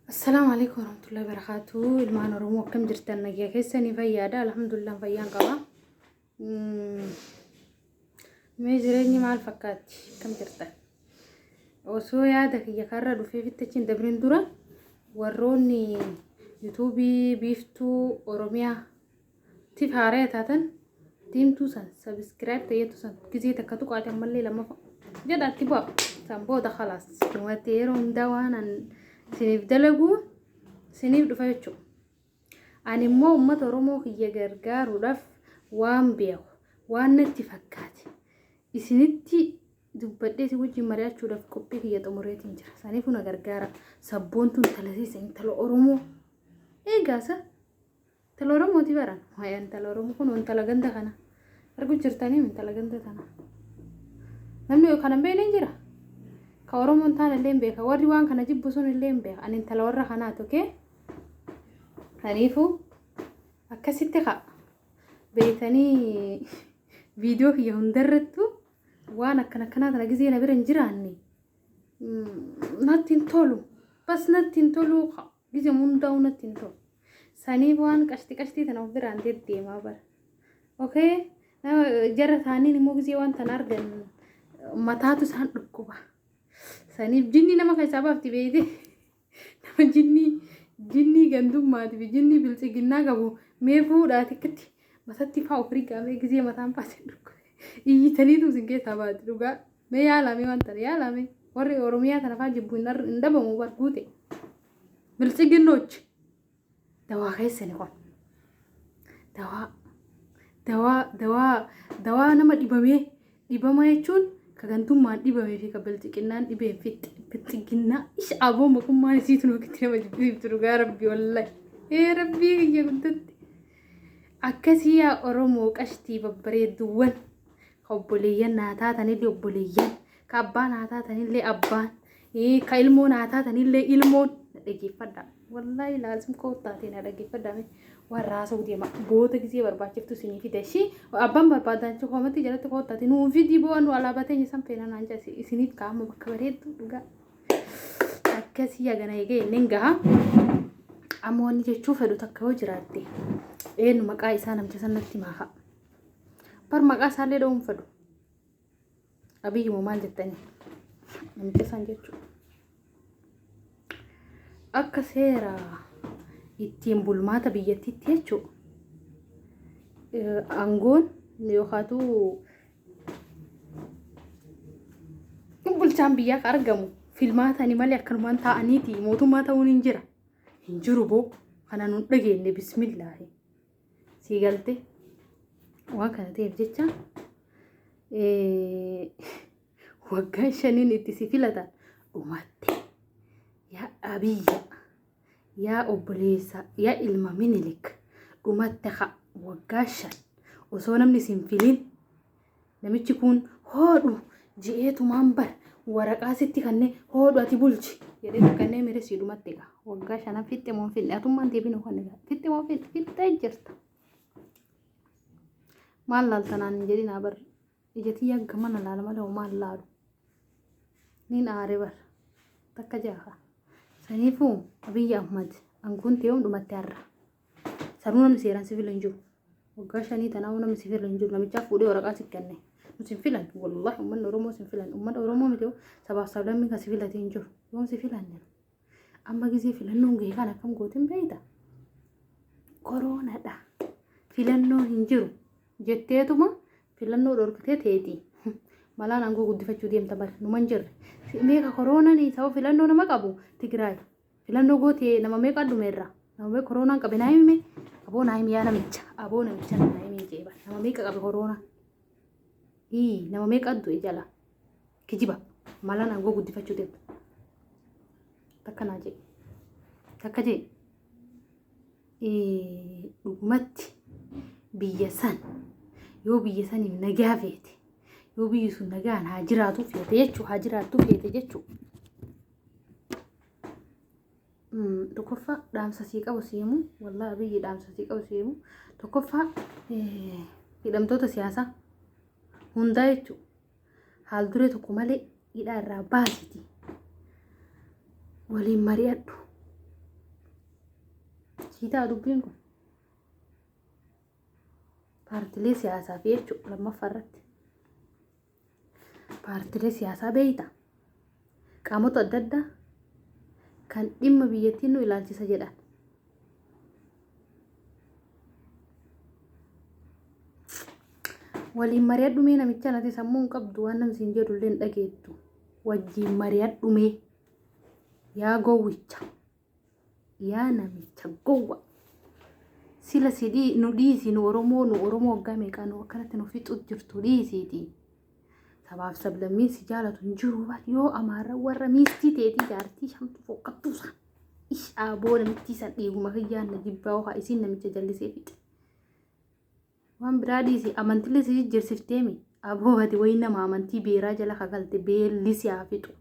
Assalaamu alaikum warahmatullahi wabarakatuh. Ilmaan Oromoo akkam jirtan nagaya keessanii fayyaadha. Alhamdulillah fayyaan qaba. Mm, Mee jireenyi maal fakkaatti? Akkam jirtan? Osoo yaada kiyya karra dhufee fittachiin dabrin dura warroonni yuutuubii biiftuu Oromiyaa Tif haaraya taatan diimtuu san subscribe tayyatu san gizee takka tuqaati ammallee lammafa jedha itti bu'a san booda khalaas dhumatti yeroo hundaa waan an isiniif dalaguu isiniif dhufa jechuudha. Ani immoo uummata Oromoo kiyya gargaaruudhaaf waan beeku waan natti fakkaate isinitti dubbadhee isin wajjin mari'achuudhaaf qophii kiyya xumureetiin jira. Saniifuu na gargaara sabboontuun talasiisa intala Oromoo eegaasa. Intala Oromooti baran. Waa'ee intala Oromoo kun intala ganda kana. Arguu jirtanii intala ganda kana. Namni yoo kana beekne hin jira. Ka Oromoon taan illee hin beeka. Warri waan kana jibbu sun illee hin beeka. Ani intala warra kanaa tokkee. Kaniifuu akkasitti ka beekanii viidiyoo kiyya hundarrattu waan akkana akkanaa kana gizee na bira hin jiraanne. Natti hin tolu. Bas natti hin tolu. Gizem hundaa'uu natti hin tolu. Sanii waan qashti qashtii tana of biraan deddeemaa bara. Okay? Nama jara taaniin immoo gizee waan tana argan mataatu isaan dhukkuba. Saniif jinnii nama keessaa baafti beeyte. Nama jinnii jinnii gandummaati fi jinnii biltsiginnaa qabu mee fuudhaa tikkitti matatti faa of rigaamee gizee mataan faa isin dhukkube. Iyyitaniitu isin keessaa baati dhugaa. Mee yaalaa mee waan tana yaalaa mee warri Oromiyaa tana faa jibbu hin dhabamu bar guute. Biltsiginnoochi dawaa keessani kun. Dawaa dawaa dawaa dawaa nama dhibamee dhibama jechuun ka gantummaan dhibamee fi ka biltsiginnaan dhibeen fixxe biltsiginnaa isa aboo mokummaan isii tunuu kitti nama jibbisiiftu dhugaa rabbi wallahi. Ee rabbii kiyya guddatti. Akkasii yaa Oromoo qashtii babbareedduuwwan. obboleeyyan naa taatanillee obboleeyyan ka abbaa naa taatanillee abbaan ii, ka ilmoo naa taatanillee ilmoon na dhageeffadha wallaahi laazim koottaatee na dhageeffadha mee warra haasa'u deema boota gisee barbaachiftu isinii fida ishii abbaan barbaadaanchi koomatti jalatti koottaate nuu fidii boo nu alaabaa teenya san feena naan jaa isiniif kaa'ama bakka bareedduu dhugaa akkasii hagana eegee inni gaha amma wanni jechuu fedhu takka yoo jiraatte eenyu maqaa isaa namcha sanatti maaha Bar maqaa isaallee dha'uun fedhu. Abiyyi moo maal jettanii? Namtisan jechuudha. Akka seera ittiin bulmaata biyyattiitti jechuudha. Aangoon yookaatu bulchaan biyyaa kan argamu filmaatani malee akkanumaan taa'aniiti mootummaa ta'uun hin jira. Hin jiru boo kana nun dhageenye bismillaahi. sii galte waan kana ta'eef jecha waggaan shaniin itti si filatan dhumatte yaa abiyya yaa obboleessa yaa ilma minilik dhumatte ka waggaa shan osoo namni sin filin Namichi kun hoodhu je'ee tumaan bar waraqaa sitti kannee hoodhu ati bulchi jedhee itti kannee miire sii dhumatte egaa waggaa shanan fixxe moo hin fixne atummaan deebiin hoo kan egaa fixxe moo fixne fixxee jirta maal laaltanaan hin jedhin haa bar ijatii yagga mana laala malee hoo maal laalu niin aare bar takka jaha saniifuu abiyyi ahmad anguun ta'ee hundumatte har'a. Sanuu namni seeraan si file hin jiru. Waggaa shanii tanaa namni si file hin jiru. Namichaaf fuudhee waraqaa si kenne. Nu si filan. Wallahi uummanni Oromoo si filan. Uummata Oromoo miti yoo sabaaf sablammii kan si filate hin jiru. Yoom si filan jiru. Amma gisee filannoon gahee kan akkam gootin beeyta. Koroonadha. Filannoo hin jiru. Jetteetuma filannoo dhorkitee teetii. Malaan aangoo guddifachuu deemta bara. Numan jirre. Meeqa koroonaan sababa filannoo nama qabu Tigraay. Filannoo gootee nama meeqa dhume irraa nama meeqa koroonaan qabe naa himime aboo naa himiyaa namicha aboo namicha naa himii jeeba nama meeqa qabe koroonaa ii nama meeqa du'e jala kijiba malaan aangoo guddifachuu deema takka naa jee takka jee ii dhugumatti biyya san yoo biyya saniif nagaa feete yoo biyyi sun nagaan haa jiraatu feete jechuu haa jiraattu feete jechuu Tokkoffaa dhaamsa sii qabu sii himu wallaahi abiyyi dhaamsa sii qabu sii himu tokkoffaa hidhamtoota siyaasaa hundaa jechuun haal duree tokko malee hidhaa irraa baasiti waliin mari'adhu sii ta'a dubbiin kun paartilee siyaasaa fi jechuun lammaffaa irratti paartilee siyaasaa beeyta qaamota adda addaa kan dhimma biyyattiin nu ilaalchisa jedhan waliin mari'adhu mee namicha nati sammuu hin qabdu waan namsi hin jedhu illee hin dhageettu wajjiin mari'adhu mee yaa gowwicha yaa namicha gowwa sila si dhii nu dhiisi nu oromoo nu oromoo waggaa meeqaa nu akkanatti nu fixu jirtu dhiisiiti sabaaf sablammiin si jaalatu hin jiru bar yoo amaara warra miistii teetii jaartii shamtu foqqattuusa ishaa boo namittii san dhiiguma kiyyaan na jibbaa hokaa isiin namicha jallisee fixe Waan biraa dhiisi amantillee si jijjiirsifteemi. Aboo ati wayii nama amantii beeraa jala kagalte beelli si haa fixu.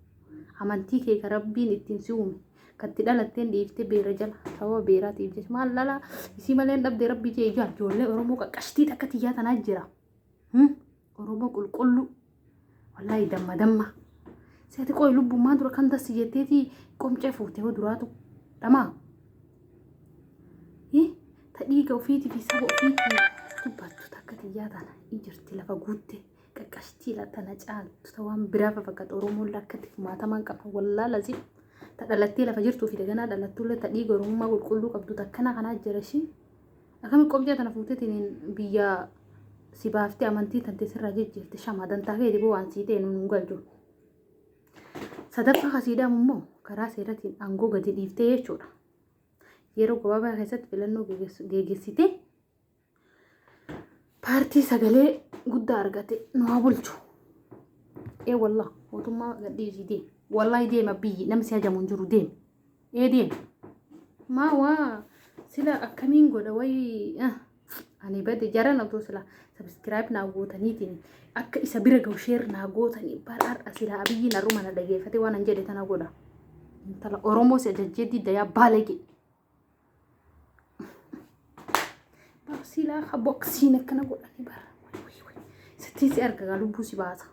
Amantii kee ka rabbiin ittiin si uume katti dhalatteen dhiifte beera jala sababa beeraatiif jecha maal dhala isii malee hin dhabde rabbii jee ijaa ijoollee Oromoo qaqqashtii takka tiyyaa tanaa jira. Oromoo qulqulluu. Wallaahi damma damma. Si ati qoy lubbummaan dura kan tassi jetteeti qomcee fuutee hoo duraatu dhamaa. Hii ta dhiiga ofiitii fi saba ofiitii dubbattu takka tiyyaa tana hin jirti lafa guutte qaqqashtii la tana caaltu ta waan biraa fafakkata Oromoon lakkatti kumaatamaan qaba wallaa lazim ta dhalattee lafa jirtuu fi daganaa dhalattullee ta dhiiga Oromummaa qulqulluu qabdu takkana kanaa jira ishii. Akkami qobjaa tana fuutetiin biyya si baaftee amantii tante sirraa jijjiirte shamaa dantaa keeti boo waan sii ta'e nuun hin galchu. Sadaffaa kasiidhaam immoo karaa seeratiin aangoo gadi dhiiftee jechuudha. Yeroo gabaabaa keessatti filannoo geeggeessitee paartii sagalee guddaa argate nu haa bulchu. Ee wallah mootummaa gadhiisii deema. Wallahi deema biyyi namni si hajamu hin jiru deema. Eedin maa waa sila akkamiin godha wayii ah, ani bade jaran otoo sila sabiskiraayib naa gootaniitiin akka isa bira gahu sheer naa gootanii bara har'a sila abiyyi narruma na dhageeffate waan an jedhe tana godha intala oromoo si ajajjee diddayaa baalage bara silaa ka boksiin akkana godhani bara wayii wayii wayii. sittiin si argagaa lubbuu si baasa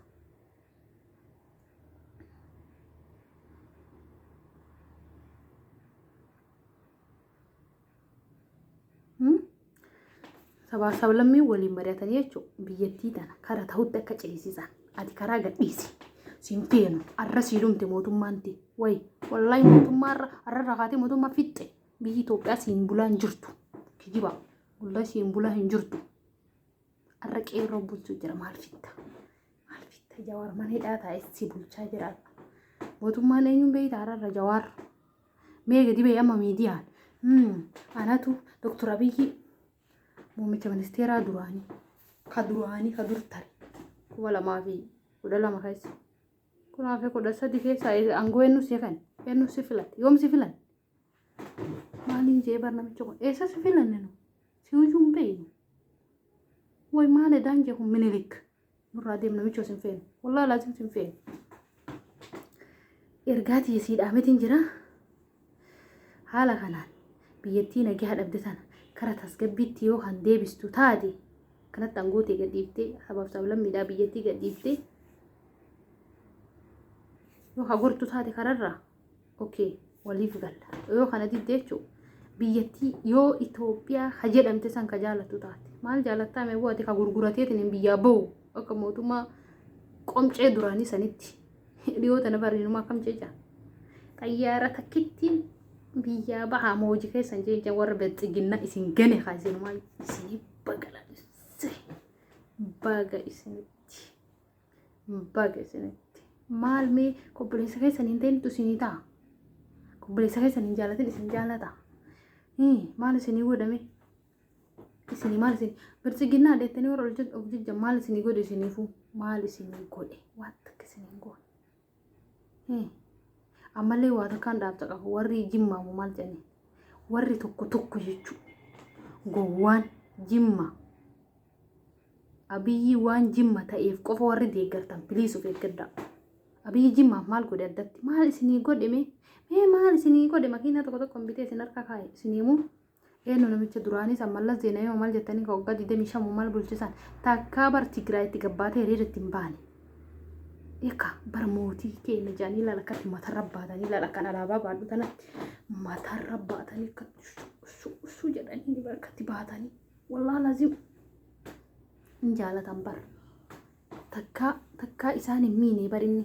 sabaa sablammii waliin mari'atanii jechuudha biyyattii tana kara ta'utti akka ceesisan ati karaa gadhiisi siin feenu arra sii dhumte mootummaanti wayi wallahi mootummaa irra arra rakaatee mootummaa fixxe biyyi Itoophiyaa siin bulaa hin jirtu kijiba wallahi siin bulaa hin jirtu. Har'a qeerroo bulchuu jira maal fitta? Maal fitta jawaar mana hidhaa taa'ee si bulchaa jira. Mootummaan eenyuun beektaa har'a jawaar? Mee gadi ba'e amma miidiyaan. Anatu Dooktar Abiyyi muummicha ministeeraa duraanii ka duraanii ka dur tare kuma lamaa fi kudha lama keessa. Kunaa fi kudha sadi keessa aangoo eenyu si kan eenyu si filate yoom si filate? Maalii jee bar namicha kun eessa si filanne nu si hujuu hin beeynu way maal edaan jee kun minilik nurraa deem namicha sin feenu wallaa laasim sin feenu ergaa tiyya sii dhaamitiin jira haala kanaan biyyattii nagaa dhabde tana kara tasgabbiitti yoo kan deebistu taate kanatti angootee gadhiiftee sabaaf sablammiidhaa biyyattii gadhiiftee yoo hagortu taate kararraa okay waliif galla yoo kana didde jechuun biyyattii yoo Itoophiyaa ka jedhamte san ka jaalattu taate maal jaalattaa mee bu'ate ka gurgurateetiin hin biyyaa bahu akka mootummaa qomcee duraanii sanitti dhiyoo tana bariinuma akkam jecha xayyaara takkittiin biyyaa bahaa mooji keessan jecha warra bilxiginna isin gane haa isinumaa isinii bagala baga isinitti. Baga isinitti. Maal mee obboleessa keessan hin ta'intu isinii ta'a. Obboleessa keessan hin jaalatin isin jaalata. Hii, Maal isinii godhame? Isinii maal isin bilchiginnaa deettanii warra hojjet- of jejjan maal isinii godhe isiniifuu? Maal isinii godhe? Waan takka isinii hin goone. Ammallee waa takkaan dhaabta qaba. Warri jimmaamu maal jedhani? Warri tokko tokko jechuudha. Gowwaan jimma. Abiyyi waan jimma ta'eef qofa warri deeggartan biliis of eeggadhaa. Abiyyi jimmaaf maal godhe addatti? Maal isinii godhe mee? Mee maal isinii godhe makiinaa tokko tokko hin bitee isin harka kaa'e isin himuu? Eenyu namicha duraanii san Mallas Zeenawii moo maal jettanii ka waggaa 25 moo maal bulchisan takkaa bar Tigraayitti gabbaatee hiriira itti hin baane. Eka bar mootii keenya jedhanii ilaala akkatti matarra baatanii ilaala kan alaabaa baadhu tanatti matarra baatanii akkatti ussuu ussuu jedhanii bar akkatti baatanii wallaahi laziim hin jaalatan bar. Takkaa takkaa isaan hin miine bar inni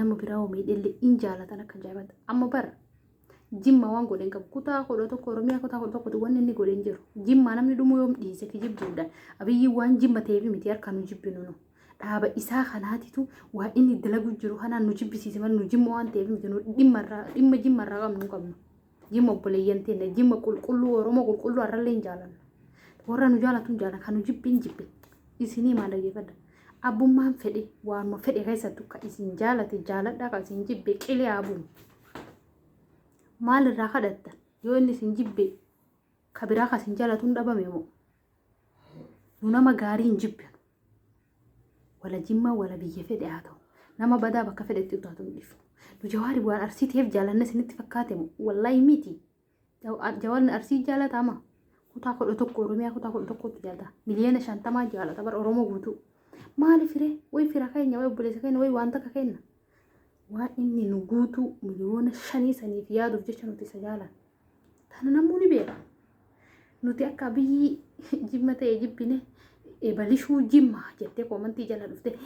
nama biraa hoo miidhellee hin jaalatan akka jaabata amma bar Jimma waan godhe hin qabu. Kutaa kudha tokko Oromiyaa kutaa kudha tokkotu wanni inni godhe hin jiru. Jimmaa namni dhumuu yoom dhiise kijibduudha. Abiyyi waan jimma ta'eef miti harka nu jibbinu nu. Dhaaba isaa kanaatitu waa inni dalaguu jiru kanaan nu jibbisiise malee nu jimma waan ta'eef miti nu dhimma irraa dhimma jimma irraa qabnu hin qabnu. Jimma obboleeyyan teenya jimma qulqulluu Oromoo qulqulluu har'allee hin jaalanna. Warra nu jaalatu hin jaalanna kan nu jibbi hin jibbi. Isinii maal dhaggeeffadha? Abbummaan fedhe waanuma fedhe keessattu kan isin jaalate jaaladhaa kan isin jibbe qilee haa bu'u. maal irraa kadhattan yoo inni isin jibbe ka biraa ka isin jaalatu hin dhabame moo nu nama gaarii hin jibbinu wala jimmaa wala biyya fedhe haa ta'u nama badaa bakka fedhetti utaatu hin dhifnu nu jawaari waan arsiiteef jaalanne isinitti fakkaate moo wallaahi miti Jawaarni arsii jaalata ama kutaa kudha tokko oromiyaa kutaa kudha tokkotti jaalata miliyoona shantamaa jaalata bara oromoo guutuu maali fire way fira keenya way obboleessa keenya way waan takka keenya waan inni nu guutuu miliyoona shanii saniif yaaduuf jecha nuti isa jaalan tana namuu ni beeka nuti akka biyyi jimma ta'e jibbine ebalishuu jimmaa jettee koomantii jala dhufte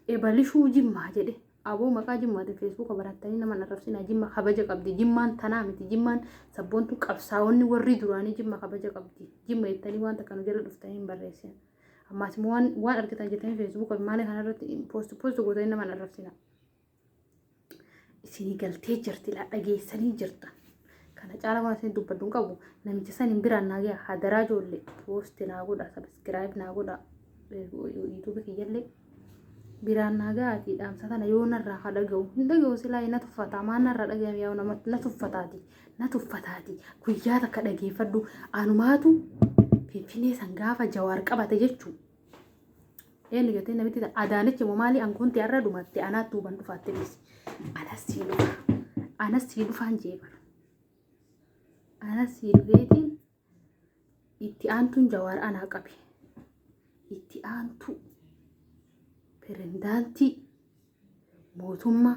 ebalishuu jimmaa jedhe Aboo maqaa jimmaatiin feesbuuka barattanii nama hin arrabsinaa jimma kabaja qabdi jimmaan tanaa miti jimmaan sabboontu qabsaa'onni warri duraanii jimma kabaja qabdi jimma jettanii waan takka nu jala dhuftanii hin barreessin ammaas immoo waan waan argitan jettanii feesbuuka maala kanarratti poost poost gootanii nama hin arrabsinaa isinii galtee jirti laa dhageessanii jirta kana caala waan isin dubbaddu hin qabu namicha san hin biraan naa gaha hadaraa ijoollee poost naa godha sabiskiraayib naa godha yuutuubii kiyyallee biraan naa ga'aati dhaamsa kana yoo narraa haa dhaga'u hin dhaga'u silaa na tuffataa maa narraa dhaga'ame yaa nama na tuffataati na tuffataati guyyaa takka dhageeffadhu anumaatu finfinee san gaafa jawaar qabate jechuu eenyu jettee namitti ta- adaanichi moo maali ankoonti har'a dhumatte anaatti huban dhufaatte dhisi anas sii dhufa anas sii dhufaan jeebar anas sii dhufeetiin Itti aantuun Jawaar anaa qabe. Itti aantuu pirezidaantii mootummaa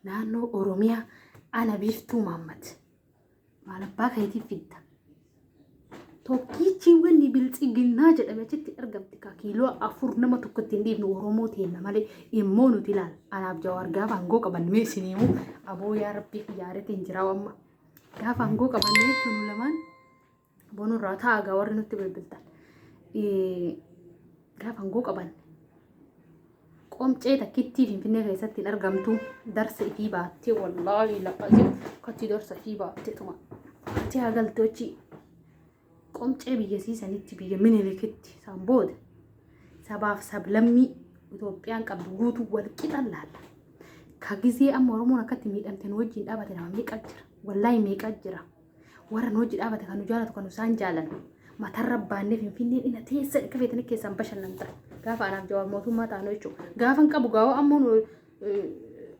naannoo Oromiyaa ana biiftuu Maammad. Maal abbaa keetii fidda. Tokkichi wanni biltsiginnaa jedhame achitti argamti kaa kiiloo afur nama tokkotti hin dhiibnu Oromoo teenna malee immoo nuti ilaala. Anaaf Jawaar gaafa aangoo qaban mee isinii aboo yaa rabbii kiyyaaree tiin jiraa wamma. Gaafa aangoo qabanne jechuun nu lamaan bonurraa ta'a gaa warri nutti bilbiltan. Eh, Gaafa aangoo qabanne qomcee takkittii finfinnee keessatti hin argamtu darsa ifii baattee wallaahi laqasee akkatti darsa ifii baattee tuma. Ati haa galtochii. Qomcee biyyasii sanitti biyya minilikitti isaan booda sabaaf sablammii Itoophiyaan qabdu guutuu wal qixan laalla. Ka gizee amma Oromoon akkatti miidhamte nu wajjin dhaabate nama meeqa jira? Wallaahi meeqa jira? Warra nu wajji dhaabate kan nu jaalatu kan nu isaan jaalatu. Matarra baannee finfinneen ina teessa akka feetanii keessaan bashannanta. Gaafa anaaf jawaar mootummaa taanu jechuudha. Gaafan qabu gaawoo ammoo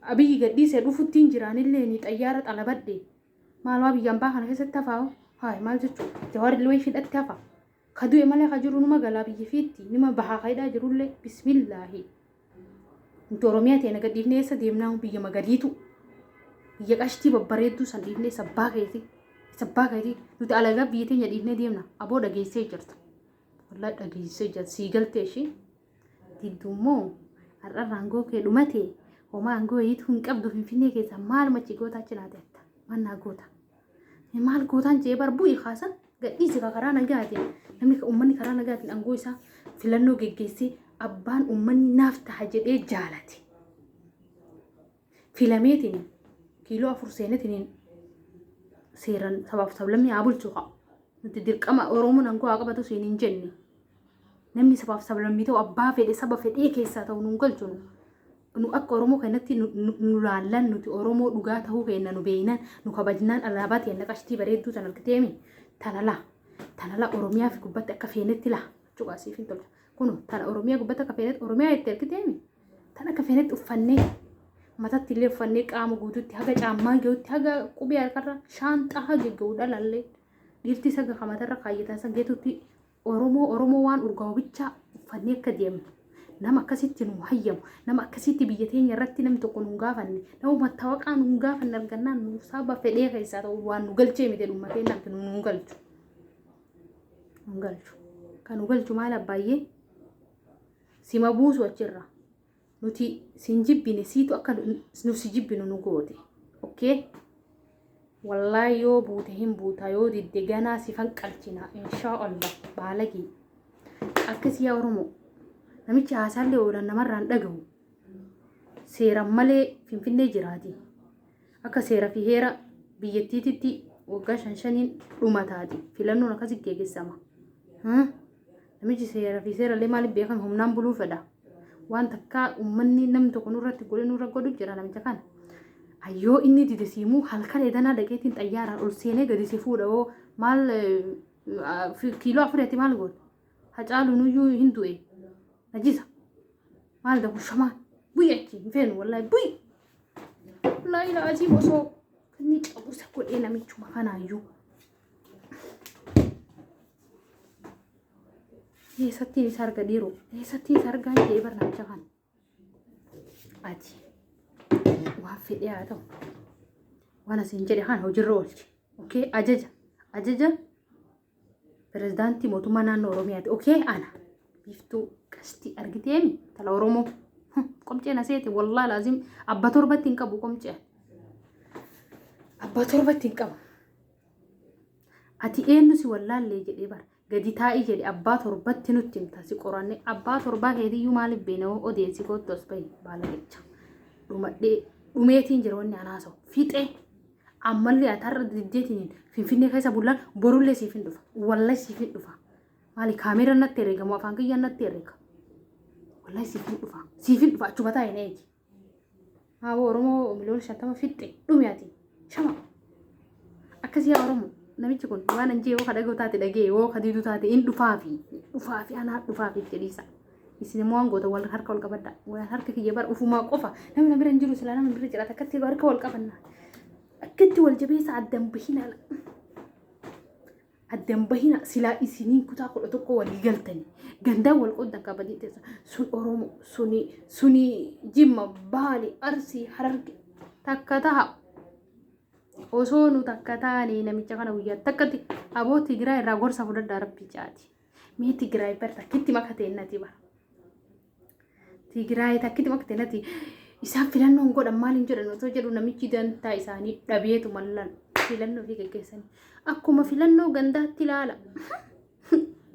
abiyyi gadhiisee dhufuttiin jiraanillee ni xayyaara xalabadde. Maalumaa biyya ambaa kana keessatti hafaa hoo? Haay maal jechuu? Jawaar illee wayii hidhatti hafa. Ka du'e malee ka jiru numa galaa biyya fiitti nima bahaa ka hidhaa jirullee bismillaahi. Nuti Oromiyaa ta'e naga dhiifnee eessa deemnaa biyya magadiitu. Biyya qashtii babbareedduu san dhiifnee isa abbaa keetii. Isa abbaa keetii nuti alagaa biyya teenya dhiifnee deemna. Aboo dhageessee jirta. Wallaahi dhageessee jirta. Sii galtee ishii. diddu immoo har'arra aangoo kee dhumate homaa aangoo wayiitu hin qabdu finfinnee keessa maaluma achi goota achi naate atta mannaa goota maal gootaan jee bar bu'i kaasa gadhiisi ka karaa nagaatiin namni ka- uummanni karaa nagaatiin aangoo isaa filannoo geggeessee abbaan uummanni naaf taha jedhee jaalate filameetiin kiiloo afur seenetiin seeran sabaaf sablammii haa bulchu haa nuti dirqama oromoon aangoo haa qabatu siin hin jenne namni sabaaf sablammii ta'u abbaa fedhe saba fedhee keessaa ta'u nuun galchu nu nu akka oromoo keenyatti nu- nu nu laallan nuti oromoo dhugaa ta'uu keenya nu beeynan nu kabajnaan alaabaa teenna qashtii bareedduu tan argiteemi tana laa tana laa oromiyaa fi gubbatti akka feenetti laa cuqaasiif hin tolcha kun tana oromiyaa gubbatti akka feenetti oromiyaa itti argiteemi Tan akka feenetti uffannee matatti illee uffannee qaama guututti haga caammaa gahutti haga qubee harkarra shaanxaa haga gahu dhalallee dhiirti saga kamatarra kaayyatan san geetutti Oromoo Oromoo waan urgaa'u bichaa uffannee akka deemnu nama akkasitti nu hayyamu nama akkasitti biyya teenya irratti namni tokko nu gaafanne nama mattaawaqaa nu gaafanne argannaan nu saaba fedhee keessaa ta'u waan nu galchee miti dhumma keenya miti nu nu galchu nu galchu kan nu galchu maal abbaay'ee sima buusu achirra nuti sin jibbine siitu akka nu si jibbinu nu goote okkee wallaa yoo buute hin buuta yoo didde ganaa si fanqalchina inshaa allah baalagii akkasii yaa oromoo namichi haasaallee oolan namarraan dhagahu seeran malee finfinnee jiraati Akka seera fi heera biyyattiititti waggaa shan shaniin dhuma taati. Filannoon akkasitti geggeessama. Haa? Namichi seera fi seera illee maaliif beekan humnaan buluu fedha. Waan takkaa uummanni namni tokko nurratti godhe nurra godhu jira namicha kana. Ayyoo inni dide siimuu halkan edanaa dhaqeetiin xayyaaraan ol seenee gadi si fuudha hoo maal eh, ah, fi- kiiloo afurii ati maal goota? Hacaaluun iyyuu hin du'e. Najisa. Maal da kun shamaan? Bu'i achi hin feenu wallahi bu'i. Wallaahi laaziim osoo inni cabusa godhee namichuma kanaayyuu. Eessattiin isa arga dhiiroo? Eessattiin isa argaa jedhee bar namicha kana? Ati waan fedhee haa ta'u. Waan asiin jedhe kana hojiirra oolchi. Okay ajaja ajaja Pirezidaantii mootummaa naannoo Oromiyaati. Okee ana. Biiftuu qashtii argiteemi tala Oromoo. Qomceen aseeti wallaa laazim abba torbatti hin qabu qomcee. Abba torbatti hin qabu. Ati eenyu si wallaallee jedhee bara. Gadi taa'ii jedhe abbaa torbatti nutti himta si qoranne abbaa torbaa keetiyyuu maaliif beekna odeessi kootti as bahi baala jecha. Dhumadhee dhumeetiin jira wanni anaasawu fixee Ammallee ati har'a diddeetiin finfinnee keessa bullaan borullee siif hin dhufa. Wallahi siif hin dhufa. Maali kaameera natti herreegamu afaan kiyyaan natti herreega. Wallahi siif hin dhufa. Siif hin dhufa achuma taa'e na eegi. Haawoo Oromoo miliyoona shantama fixxe dhumi ati. Shama. Akkasii yaa Oromoo. Namichi kun waan anjii yoo ka dhaga'u taate dhaga'e yoo ka didu taate hin dhufaafi. Dhufaafi anaa dhufaafi jedhiisa. Isin immoo hangoota wal harka wal qabadha. Wal harka kiyya bara ufumaa qofa. Namni na bira hin jiru silaa namni bira jiraata akkatti harka wal qabanna. Akkatti wal jabeessa addan bahinaa. Addan bahinaa silaa isiniin kutaa kudha tokko walii galtani. Gandaa wal qooddan kabajii teessa. Sun Oromoo, suni, suni Jimma, Baali, Arsii, Hararge. Takka taha. Osoo nu takka taane namicha kana guyyaa takkatti aboo Tigiraa irraa gorsa fudhadhaa rabbi caati. Mee Tigraay bar takkitti makatee nati bar. Tigraay takkitti makatee nati isaan filannoon godhan maal hin jedhan otoo jedhu namichi dantaa isaanii dhabeetu mallan filannoo fi geggeessanii akkuma filannoo gandaatti ilaala.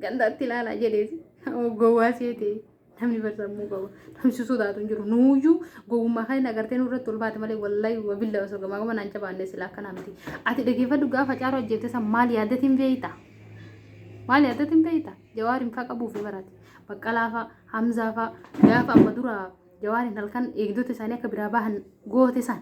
Gandaatti ilaala jedheeti. Gowwaa seetee. namni barsamuu qabu namni sodaatu hin jiru nuuyyuu gowwummaa kan hin agartee nurratti ol baate malee wallahi wabilla osoo gamaa gama naan jabaannee silaa akka namti ati dhageeffadhu gaafa caaroo ajjeefte san maal yaadatiin beeyta maal yaadatiin beeyta jawaariin faa qabuufi barate baqqalaa faa hamzaa faa gaafa amma dura jawaariin halkan eegdota isaanii akka biraa bahan goote san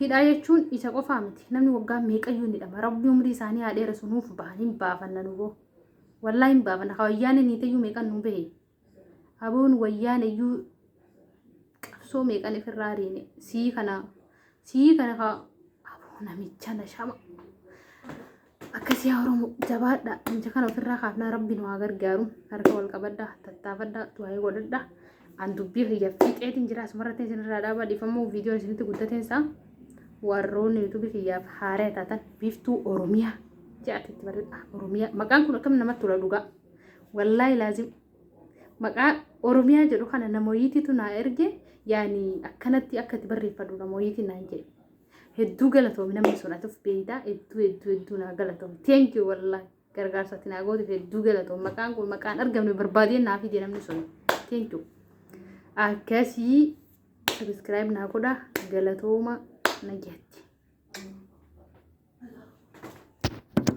Hidhaa jechuun isa qofaa miti. Namni waggaa meeqayyuu hin hidhama. Rabbi umrii isaanii haa dheeresu nuuf bahan hin baafanna nu boo. Wallaa hin baafanna. Ka wayyaanee niiteyyuu meeqan nu bahe. Aboon wayyaaneyyuu qabsoo meeqan ifirraa ariine. Sii kana sii kana ka aboo namicha na shama. Akkasii yaa Oromoo jabaadha. Inja kana ofirraa kaafnaa rabbi nu haa gargaaru. Harka wal qabadha, tattaafadha, du'aayii godhadha. An dubbii kiyya fiixeetiin jira asumarratti isinirraa dhaabaa dhiifamuu viidiyoon isinitti guddateen isaa warroonni yuutuubii kiyyaaf haaree taatan biiftuu Oromiyaa jedhatti itti barreessa. Oromiyaa maqaan kun akkam namatti tola dhugaa. Wallaahi laazim maqaa Oromiyaa jedhu kana namoyitiitu naa erge yaani akkanatti akka itti barreeffadhu namoyitii naan jedhe. Hedduu galatoomi namni sun ati of beeytaa hedduu hedduu hedduu naa galatoomi. Thank you wallahi gargaarsa ati naa gooteef hedduu galatoomi. Maqaan kun maqaan argamne barbaadee naa fide namni sun. Thank you. Akkasii subscribe naa godha galatooma nagatti.